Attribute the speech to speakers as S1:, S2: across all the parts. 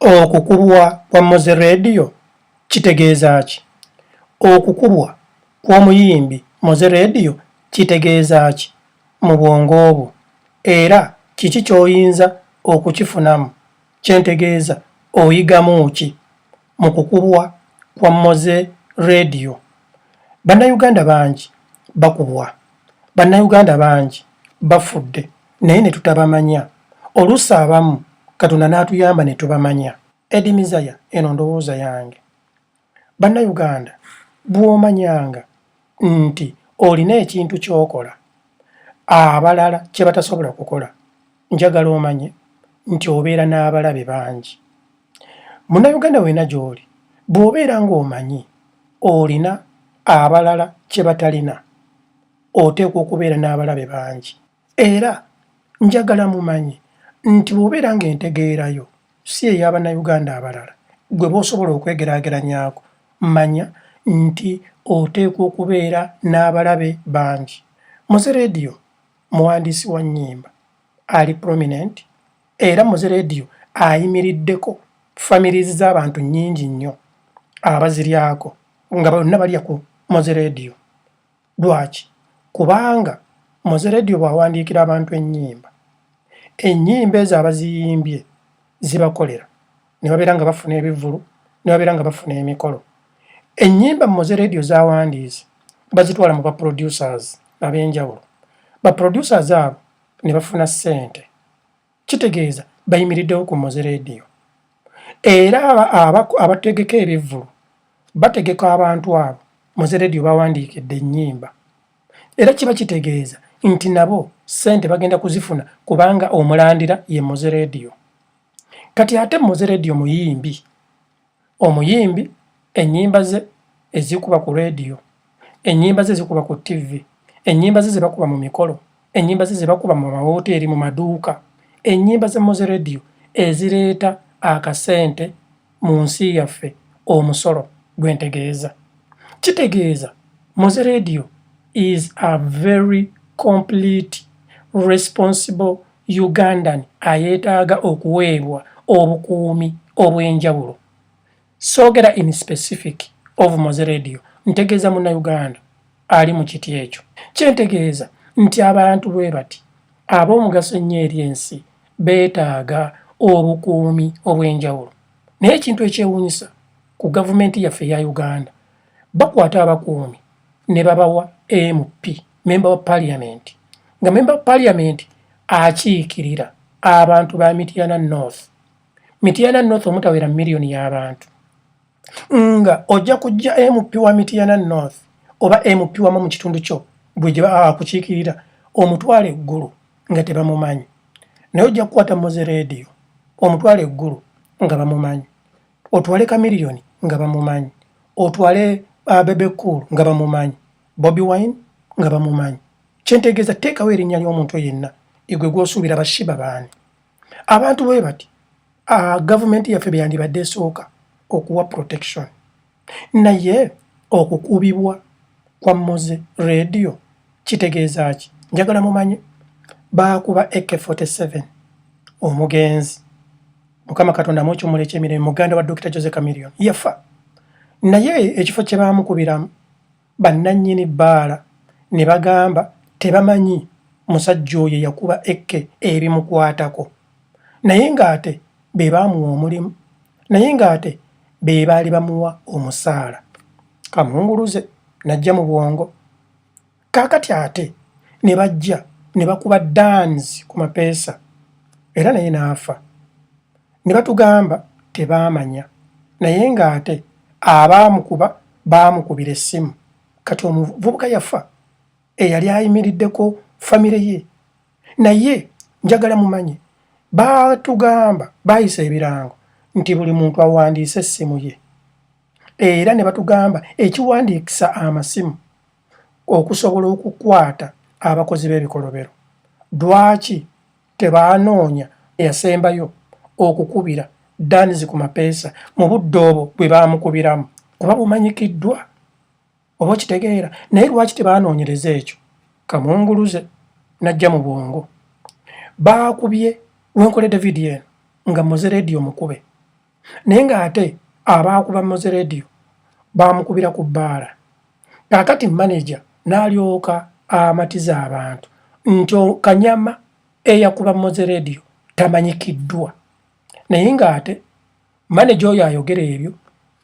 S1: Okukubwa kwa Moze Radio kitegeeza ki? Okukubwa kw'omuyimbi Moze Radio kitegeeza ki mu bwongo bwo era kiki ky'oyinza okukifunamu? Kye ntegeeza, oyigamu ki mu kukubwa kwa Moze Radio? Bannayuganda bangi bakubwa. Bannayuganda bangi bafudde. naye ne tutabamanya oluusi abamu katonda n'atuyamba ne tubamanya edi mizaya eno ndowooza yange bannayuganda bw'omanyanga nti olina ekintu ky'okola abalala kye batasobola kukola njagala omanye nti obeera n'abalabe bangi munnayuganda weena gy'oli bw'obeera ng'omanyi olina abalala kye batalina oteekwa okubeera n'abalabe bangi Era njagala mumanye nti bw'obeera ng'entegeera yo si eya Bannayuganda abalala gwe b'osobola okwegeraageranyaako, manya nti oteekwa okubeera n'abalabe bangi. Moze Radio muwandiisi wa nnyimba ali prominent era Moze Radio ayimiriddeko families z'abantu nnyingi nnyo abaziryako nga bonna balya ku Moze Radio. Lwaki? Kubanga Mozeredio bw'awandiikira abantu ennyimba, ennyimba ezo abaziyimbye zibakolera ne babeera nga bafuna ebivvulu, ne babeera nga bafuna emikolo. Ennyimba Mozeredio z'awandiise bazitwala mu baproducers ab'enjawulo, baproducers abo ne bafuna ssente kitegeeza bayimiriddewo ku moze leediyo era abategeka ebivvulu bategeka abantu abo moze leediyo bawandiikidde ennyimba era kiba kitegeeza nti nabo ssente bagenda kuzifuna kubanga omulandira ye moze leediyo kati ate moze leediyo muyimbi Omuyimbi ennyimba ze ezikuba ku leediyo, ennyimba ze zikuba ku ttivvi, ennyimba ze ze bakuba mu mikolo, ennyimba ze ze bakuba mu mawooteeri, mu maduuka, ennyimba za Moze Radio ezireeta akasente mu nsi yaffe, omusolo gwe ntegeeza. Kitegeeza Moze Radio is a very complete responsible. Ugandan ayetaaga okuweebwa obukuumi obw'enjawulo. Soogera in specific of Moze Radio, ntegeeza Munnayuganda ali mu kiti ekyo. Kye ntegeeza nti abantu bwe bati ab'omugaso ennyo eri ensi beetaaga obukuumi obw'enjawulo. Naye ekintu ekyewuunyisa ku gavumenti yaffe eya Uganda, bakwata abakuumi ne babawa MP. memba wa parliament nga memba wa parliament akiikirira abantu ba mityana north mityana north omutawera miliyoni y'abantu nga ojja kujja mp wa mityana north oba mp wamu mu kitundu kyo gwe gye baa akukiikirira omutwala eggulu nga tebamumanyi naye ojja kukwata muzi rediyo omutwala eggulu nga bamumanyi otwale kamiliyoni nga bamumanyi otwale uh, bebe cool nga bamumanyi Bobi Wine nga bamumanyi. Kyentegeeza teekawo erinnya ly'omuntu yenna egwe gw'osuubira bashiba baani. Abantu bwe bati ah, gavumenti yaffe bye yandibadde esooka okuwa protection. Naye okukubibwa kwa Moze radio kitegeeza ki? Njagala mumanye baakuba AK47 omugenzi Mukama Katonda amucumula eky'emirembe muganda wa Dokita Jose Chameleone yafa naye ekifo kye baamukubiramu bannannyini bbaala ne bagamba tebamanyi musajja oyo eyakuba Ekke ebimukwatako naye ng'ate be baamuwa omulimu naye ng'ate be baali bamuwa omusaala. Kamunguluze n'ajja mu bwongo kaakati ate ne bajja ne bakuba Danz ku mapeesa era naye n'afa. ne batugamba tebaamanya naye ng'ate abaamukuba baamukubira essimu kati omuvubuka yafa eyali ayimiriddeko famire ye naye njagala mumanye baatugamba baayisa ebirango nti buli muntu awandiise essimu ye era ne batugamba ekiwandiikisa amasimu okusobola okukwata abakozi b'ebikolobero lwaki tebaanoonya eyasembayo okukubira Danz ku mapeesa mu budde obwo bwe baamukubiramu kuba bumanyikiddwa oba okitegeera naye lwaki tebaanoonyereza ekyo kamunguluze najja mu bwongo baakubye wenkoledde vidiyo eno nga muze leediyo mukube naye ng'ate abaakuba moze radio baamukubira ku bbaala kaakati maneja n'alyoka amatiza abantu nti kanyama eyakuba moze radio tamanyikiddwa naye ng'ate maneja oyo ayogera ebyo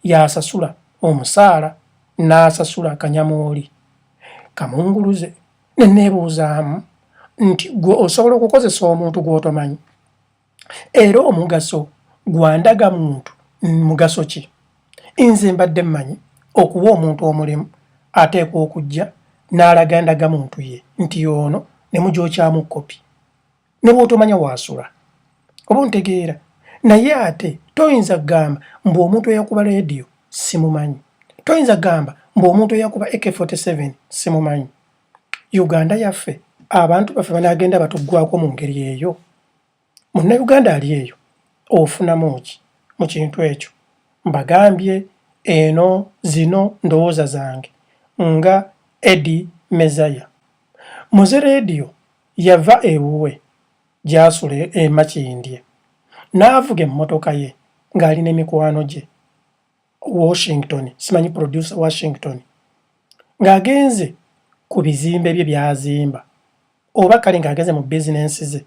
S1: y'asasula omusaala n'asasula kanyama oli kamunguluze ne neebuuzaamu nti gwe osobola okukozesa omuntu gw'otomanyi era omugaso gwa ndaga muntu mugaso ki nze mbadde mmanyi okuwa omuntu omulimu ateekwa okujja n'alaga ndaga muntu ye nti ono ne mugyokyamu kopi ne bw'otomanya waasula oba ontegeera naye ate toyinza kugamba mbu omuntu eyakuba leediyo simumanyi toyinza kugamba mbu omuntu eyakuba ak47 simumanyi uganda yaffe abantu baffe banaagenda batuggwako mu ngeri eyo Munnayuganda ali eyo ofunamu ki mu kintu ekyo? Mbagambye eno zino ndowooza zange nga Eddy Mezaya. Muze leediyo yava ewuwe gy'asula e Makindye n'avuga emmotoka ye ng'ali ne mikwano gye. Washington, simanyi producer Washington ng'agenze ku bizimbe bye byazimba oba kale ng'agenze mu bizinensi ze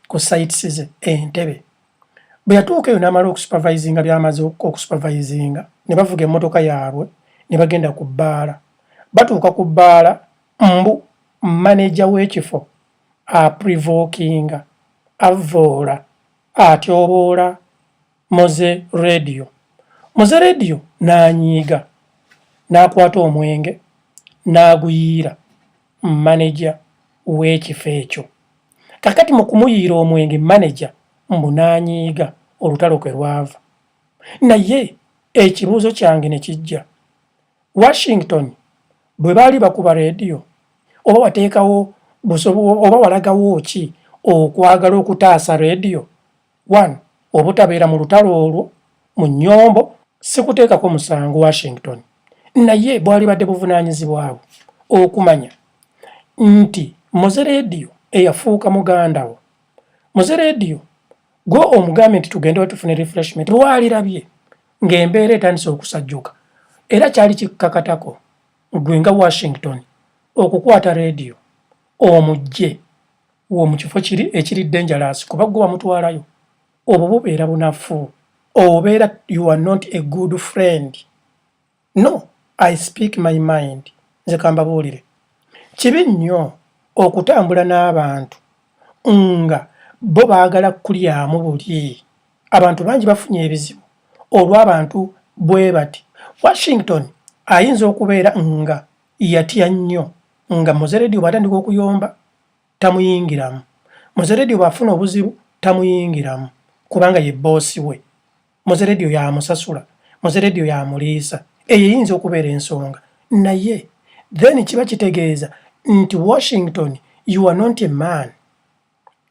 S1: ku sites ze Entebbe bwe yatuuka eyo n'amala okusupervisinga by'amaze okusupervisinga ne bavuga emmotoka yaabwe ne bagenda ku bbaala batuuka ku bbaala mbu maneja w'ekifo aprivokinga avvoola atyoboola Moze Radio. Moze Radio n'anyiiga n'akwata omwenge n'aguyiira maneja w'ekifo ekyo. Kakati mu kumuyiira omwenge maneja mbu n'anyiiga olutalo kwe lwava. Naye ekibuuzo kyange ne kijja Washington bwe baali bakuba leediyo oba wateekawo oba walagawo ki okwagala okutaasa leediyo? 1 obutabeera mu lutalo olwo mu nyombo sikuteekako musango washington naye bwalibadde buvunaanyizibwabwo okumanya nti muze leediyo eyafuuka mugandawo muze leediyo gwe omugambe nti tugende wetufune refreshment lwalirabye ng'embeera etandise okusajjuka era kyali kikkakatako gwe nga washington okukwata leediyo omujje wo mu kifo kiri ekiri dangerous kuba gwe wamutwalayo obwo bubeera bunafu obeera you are not a good friend no i speak my mind nze kambabuulire kibi nnyo okutambula n'abantu nga bo baagala kulyamu buli abantu bangi bafunye ebizibu olw'abantu bwe bati washington ayinza okubeera nga yatya nnyo nga muzeredi obwatandika okuyomba tamuyingiramu muzeredi obwafuna obuzibu tamuyingiramu kubanga ye boosi we muzeredi oyo amusasula muzeredi oyo amuliisa eyo eyinza okubeera ensonga naye then kiba kitegeeza nti washington you are not a man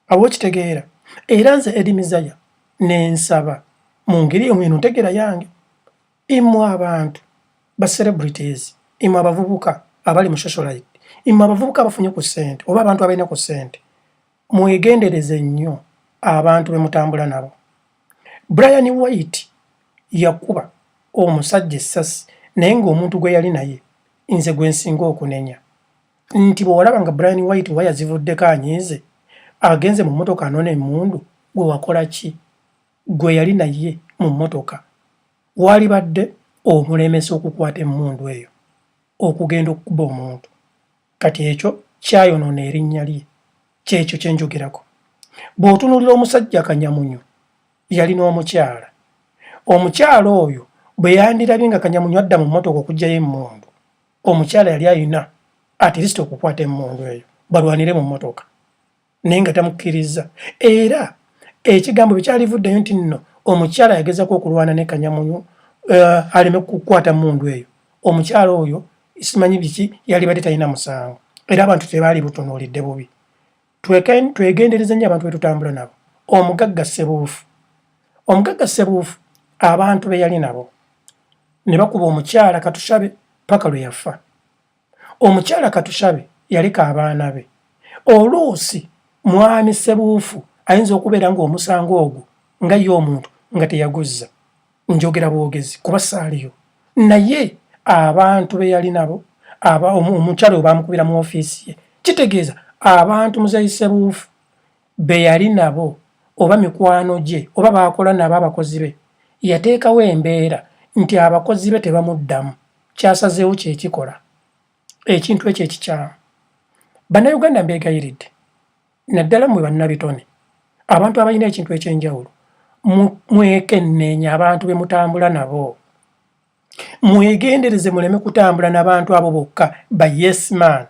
S1: awo okitegeera era nze edimizaya nensaba mu ngeri eyo mweno ntegeera yange Imwe abantu ba celebrities, imwe abavubuka abali mu socialite, imwe abavubuka abafunye ku sente oba abantu abalina ku sente, mwegendereze nnyo abantu bemutambula nabo. Brian White yakuba omusajja essasi naye ng'omuntu gwe yali naye nze gwe nsinga okunenya nti bwe walaba nga Brian White waya zivuddeko anyiize agenze mu mmotoka anona emundu gwe wakola ki? gwe yali naye mu mmotoka waalibadde omulemesa okukwata emmundu eyo okugenda okukuba omuntu. Kati ekyo kyayonoona erinnya lye. Ky'ekyo kye njogerako. Bw'otunuulira omusajja Kanyamunyu, yalina omukyala. Omukyala oyo bwe yandirabye nga Kanyamunyu adda mu mmotoka okuggyayo emmundu, omukyala yali alina atirisita okukwata emmundu eyo balwanire mu mmotoka. naye nga tamukkirizza era ekigambo bye kyalivuddeyo nti nno omukyala yagezako okulwana ne kanyamunyu uh, aleme kukwata mundu eyo omukyala oyo simanyi biki yalibadde talina musango era abantu tebaali butunuulidde bubi twegendereza nnyo abantu betutambula nabo omugagga sebuufu omugagga sebuufu abantu be yali nabo ne bakuba omukyala katushabe paka lwe yafa omukyala katushabe yaleka abaana be oluusi mwami sebuufu ayinza okubeera ng'omusango ogwo nga ye omuntu nga teyaguzza njogera bwogezi kuba saaliyo naye abantu be yali nabo omukyala oyo bamukubira mu ofiisi ye kitegeeza abantu muzeyi sebuufu be yali nabo oba mikwano gye oba baakola nabo abakozi be yateekawo embeera nti abakozi be tebamuddamu kyasazeewo kye kikola ekintu ekyo ekikyamu bannayuganda mbeegayiridde naddala mwe bannabitone abantu abalina ekintu eky'enjawulo mwekenneenya abantu be mutambula nabo mwegendereze muleme kutambula nabantu abo bokka ba yes man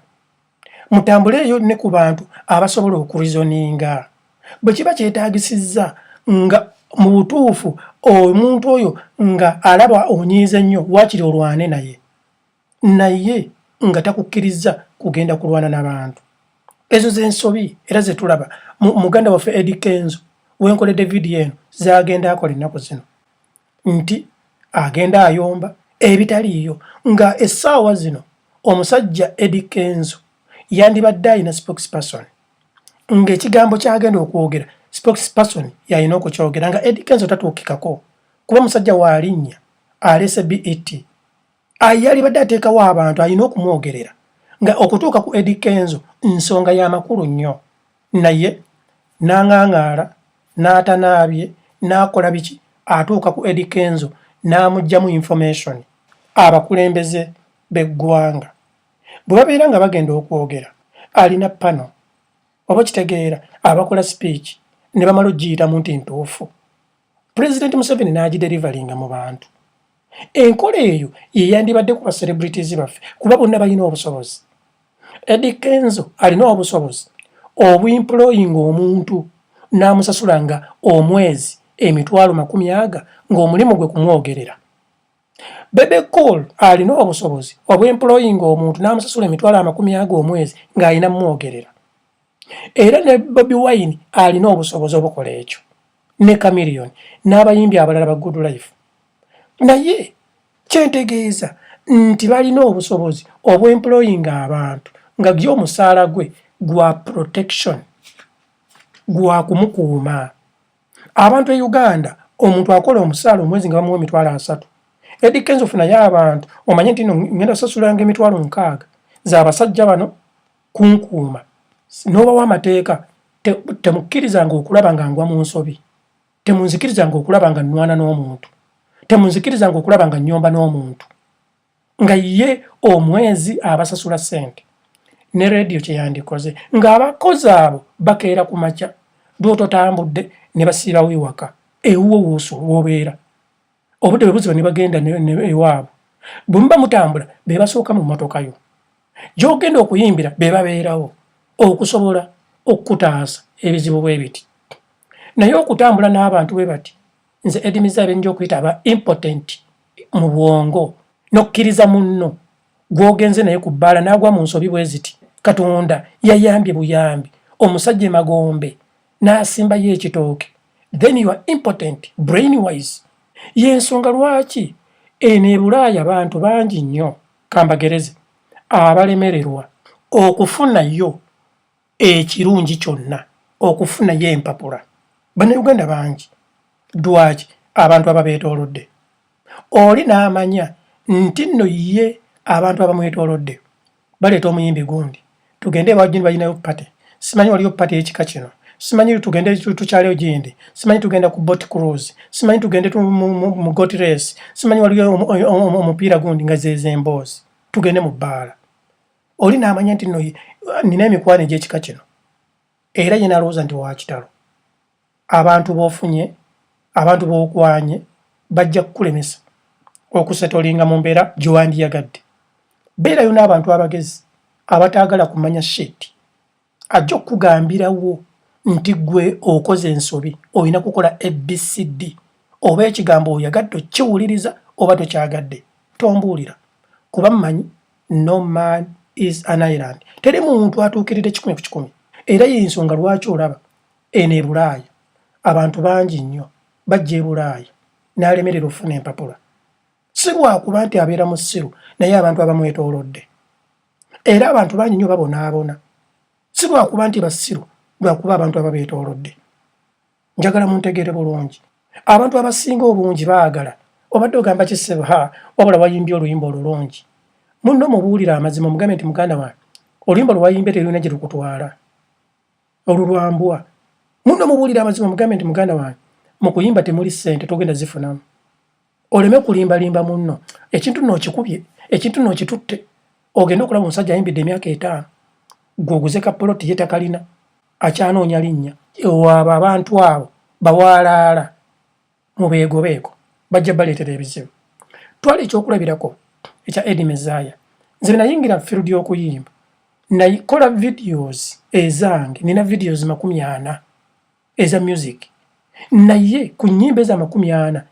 S1: mutambuleeyo ne ku bantu abasobola okurizoninga bwe kiba kyetaagisizza nga mu butuufu omuntu oyo nga alaba onyiize nnyo waakiri olwane naye naye nga takukkirizza kugenda kulwana na bantu ezo z'ensobi era ze tulaba muganda waffe edi kenzo wenkoledde vidiyo eno zagenda akola ennaku zino nti agenda ayomba ebitaliiyo nga essaawa zino omusajja Eddy Kenzo yandibadde alina spokesperson nga ekigambo kyagenda okwogera spokesperson yalina okukyogera nga Eddy Kenzo tatuukikako kuba musajja waalinnya aleese BET. yalibadde ateekawo abantu alina okumwogerera nga okutuuka ku Eddy Kenzo nsonga ya makulu nnyo naye n'ang'ang'ala n'atanaabye n'akola biki atuuka ku Eddy Kenzo n'amuggyamu information abakulembeze b'eggwanga bwe babeera nga bagenda okwogera alina pano oba kitegeera abakola speech ne bamala okugiyitamu nti ntuufu president museveni n'agiderivalinga mu bantu enkola eyo yeyandibadde ku bacelebrities baffe kuba bonna balina obusobozi edi kenzo alina obusobozi obuemployinga omuntu n'amusasula nga omwezi emitwalo makumi aga ng'omulimu gwe kumwogerera Bebe Cool alina obusobozi obw'employinga omuntu n'amusasula emitwalo amakumi ago omwezi ng'alina mwogerera. Era ne Bobi Wine alina obusobozi obukola ekyo ne Chameleon n'abayimbi abalala ba Good Life. Naye kyentegeeza nti balina obusobozi obw'employinga abantu nga gye omusaala gwe gwa protection gwa kumukuuma. abantu e uganda omuntu akola omusaala omwezi nga bamuwa emitwalo asatu edi kenzo funayo abantu omanye nti no ngenda sasulanga emitwalo nkaaga zabasajja bano kunkuuma nobawo amateeka temukkirizanga okulaba nga ngwa mu nsobi temunzikirizanga okulaba nga nwana n'omuntu temunzikirizanga okulaba nga nyomba n'omuntu nga ye omwezi abasasula sente ne radio kyeyandikoze nga abakozi abo bakeera ku makya lwototambudde ne basiibawo ewaka ewuwo wusu wobeera obudde bwe buziba ne bagenda ewaabwe bwe muba mutambula be basooka mu mmotoka yo gyogenda okuyimbira be babeerawo okusobola okukutaasa ebizibu bwe biti naye okutambula n'abantu bwe bati nze edimiza ebinja okuyita aba impotent mu bwongo nokkiriza munno gwogenze naye ku bbaala n'agwa mu nsobi bwe ziti katonda yayambye buyambi omusajja emagombe n'asimbayo ekitooke then you are impotent brain wise y'ensonga lwaki eno ebulaaya bantu bangi nnyo kambagereze abalemererwa okufunayo ekirungi kyonna okufunayo empapula bannayuganda bangi dwaki abantu ababeetoolodde oli n'amanya nti nno ye abantu abamwetoolodde baleeta omuyimbi gundi tugende ewajuni balinayo pate simanyi waliyo pate ekika kino simanyi tugende tukyaleyo gindi simanyi tugenda ku bot cruise simanyi tugende mu got race simanyi waliyo omupiira gundi nga zezo emboozi tugende mu bbaala oli n'amanya nti no nina emikwano egy'ekika kino era ye nalowooza nti wakitalo abantu b'ofunye abantu b'okwanye bajja kukulemesa okusetolinga mu mbeera gyewandiyagadde beerayo n'abantu abagezi abataagala kumanya shit Ajja okukugambirawo nti ggwe okoze ensobi, olina kukola ABCD. Oba ekigambo oyagadde okukiwuliriza oba tokyagadde, tombuulira. Kuba mmanyi no man is an island. Teri muntu atuukiridde kikumi ku kikumi. Era y'ensonga lwaki olaba eno e Bulaaya abantu bangi nnyo bajja e Bulaaya n'alemerera okufuna empapula. Si lwakuba nti abeera musiru naye abantu abamwetoolodde era abantu bangi nnyo babonaabona si lwakuba nti basiru lwakuba abantu aba beetoolodde njagala muntegeere bulungi abantu abasinga obungi baagala obadde ogamba kisebo ha wabula wayimbye oluyimba olulungi munno mubuulire amazima omugambe nti muganda wange oluyimba lwewayimbye terulina gye lukutwala olulwambwa munno mubuulire amazima omugambe nti muganda wange mu kuyimba temuli ssente togenda zifunamu oleme kulimbalimba munno ekintu nno okikubye ekintu nno okitutte ogende okulaba omusajja ayimbidde emyaka etaano gwe oguze ka poloti ye takalina akyanoonya linnya ewaabo abantu abo bawaalaala mu beegobeeko bajja baleetera ebizibu twala ekyokulabirako ekya edi mezaya nze benayingira field y'okuyimba nakola videos ezange nina videos makumi ana eza music naye ku nyimba eza makumi ana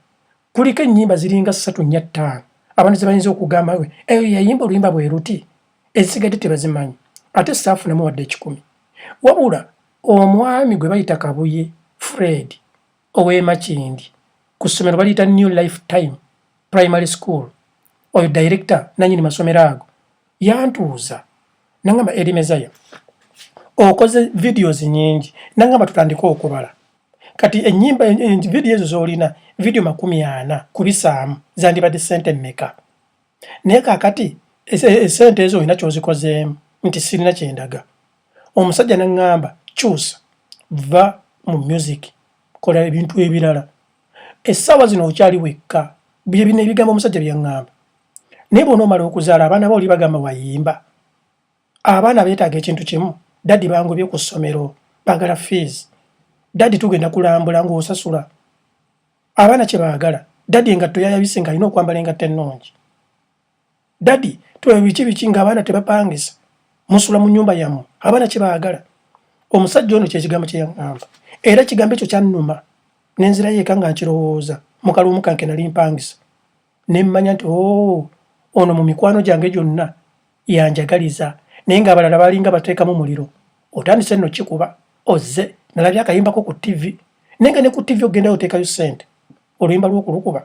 S1: kuliko enyimba ziringa satu nya ttaano abantu zebayinza okugamba we eyo yayimba oluyimba bwe luti ezisigadde tebazimanyi ate saafu namu wadde ekikumi wabula omwami gwe bayita kabuye fred owemakindi ku ssomero baliyita new life time primary school oyo director nanyini masomero ago yantuuza nangamba erimezaya okoze videos nyingi nangamba tutandike okubala kati enyimba video ezo zolina video makumi ana kubisaamu zandibadde sente meka naye kakati esente ezo olina kyozikozeemu nti sirina kyendaga omusajja nangamba kyusa va mu music kola ebintu ebirala essaawa zino okyali wekka byebino ebigambo omusajja byaŋŋamba naye bwonomala okuzaala abaana ba oli bagamba wayimba abaana betaaga ekintu kimu dadi bangobye ku ssomero bagala fees dadi tugenda kulambula ngaosasula abaana kyebagala dadi engatto yayabise nga alina okwambala engatto ennungi dadi twebiki biki nga abaana tebapangisa musula mu nyumba yamu abaana kyebagala omusajja ono kyekigambo kyeyaŋamba era kigambo ekyo kyannuma nenzirayo eka nga nkirowooza mukalumukanke nali mpangisa ne mmanya nti oo oh, ono mu mikwano gyange gyonna yanjagaliza naye ng'abalala balinga bateekamu muliro otandise nno kikuba ozze nalabye akayimbako ku ttivi naye nga ne ku ttivi okugendayo oteekayo ssente oluyimba lw'okulukuba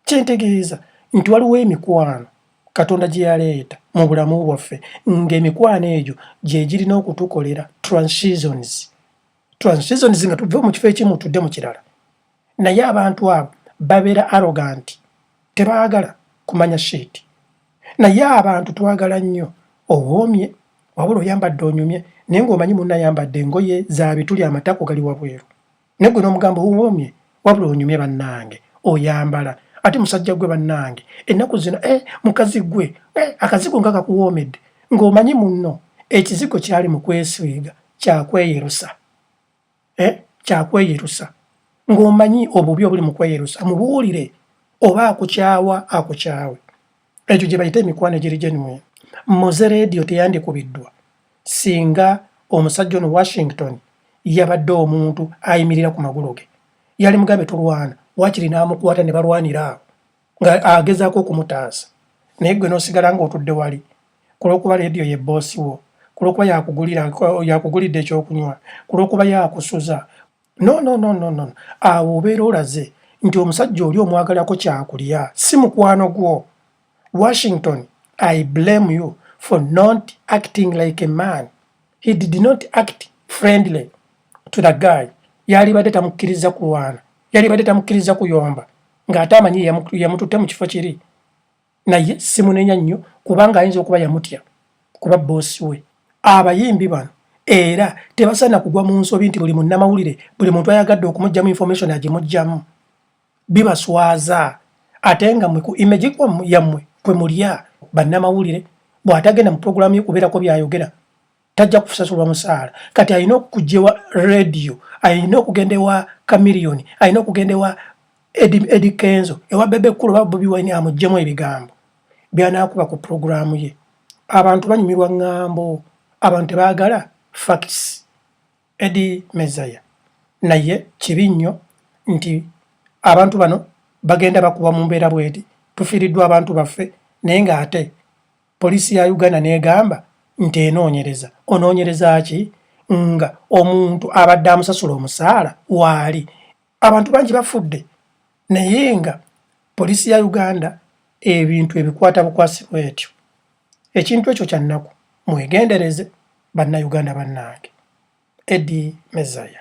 S1: kyentegeeza nti waliwo emikwano katonda gye yaleeta mu bulamu bwaffe ng'emikwano egyo gye girina okutukolera transitions transitions nga tuve mu kifo ekimu tudde mu kirala naye abantu abo babera arrogant tebagala kumanya shit naye abantu twagala nnyo owoomye wabula oyambadde onyumye naye ng'omanyi munna ayambadde engoye za bituli amatako gali wabweru naye gwe n'omugambo owoomye wabula onyumye bannange oyambala ate musajja gwe bannange ennaku zino e mukazi gwe e akazigo nga kakuwoomedde ng'omanyi munno ekizigo kyali mu kwesiiga kyakweyerusa eh, kyakweyerusa ng'omanyi obubi obuli mu kweyerusa mubuulire oba akukyawa akukyawe ekyo gye bayita emikwano egiri genuwin moze rediyo teyandikubiddwa singa omusajja ono washington yabadde omuntu ayimirira ku magulu ge yali mugambe tulwana wakiri n'amukwata ne balwanira awo nga agezaako okumutaasa naye gwe n'osigala ng'otudde wali ku lw'okuba leediyo ye bboosi wo ku lw'okuba yakugulidde ekyokunywa ku lw'okuba yakusuza no no no no no awo obeera olaze nti omusajja oli omwagalako kyakulya si mukwano gwo washington i blame you for not acting like a man he did not act friendly to the guy yalibadde tamukkiriza kulwana yalibadde tamukkiriza kuyomba ng'ate amanyi yamututte mu kifo kiri naye simunenya nnyo kubanga ayinza okuba yamutya kuba boosi we abayimbi bano era tebasaana kugwa mu nsobi nti buli munnamawulire buli muntu ayagadde okumugyamu information agimugyamu bibaswaza ate nga mwe ku image yammwe kwe mulya bannamawulire bw'atagenda mu puroguramu ye kubeerako by'ayogera tajja kusasulwa musaala kati alina okukugyewa radio alina okugenda ewa camilioni alina okugenda ewa edi kenzo ewa bebe kulu oba bobi wine amugyemu ebigambo byanakuba ku puroguramu ye abantu banyumirwa ŋŋambo abantu tebaagala facts edi mezaya naye kibi nnyo nti abantu bano bagenda bakuba mu mbeera bweti tufiiriddwa abantu baffe naye ng'ate Poliisi ya Uganda n'egamba nti enoonyereza. Onoonyereza ki nga omuntu abadde amusasula omusaala waali? Abantu bangi bafudde naye nga poliisi ya Uganda ebintu ebikwata bukwasi bwetyo. Ekintu ekyo kya nnaku. Mwegendereze Bannayuganda bannange. Eddie Mezaya.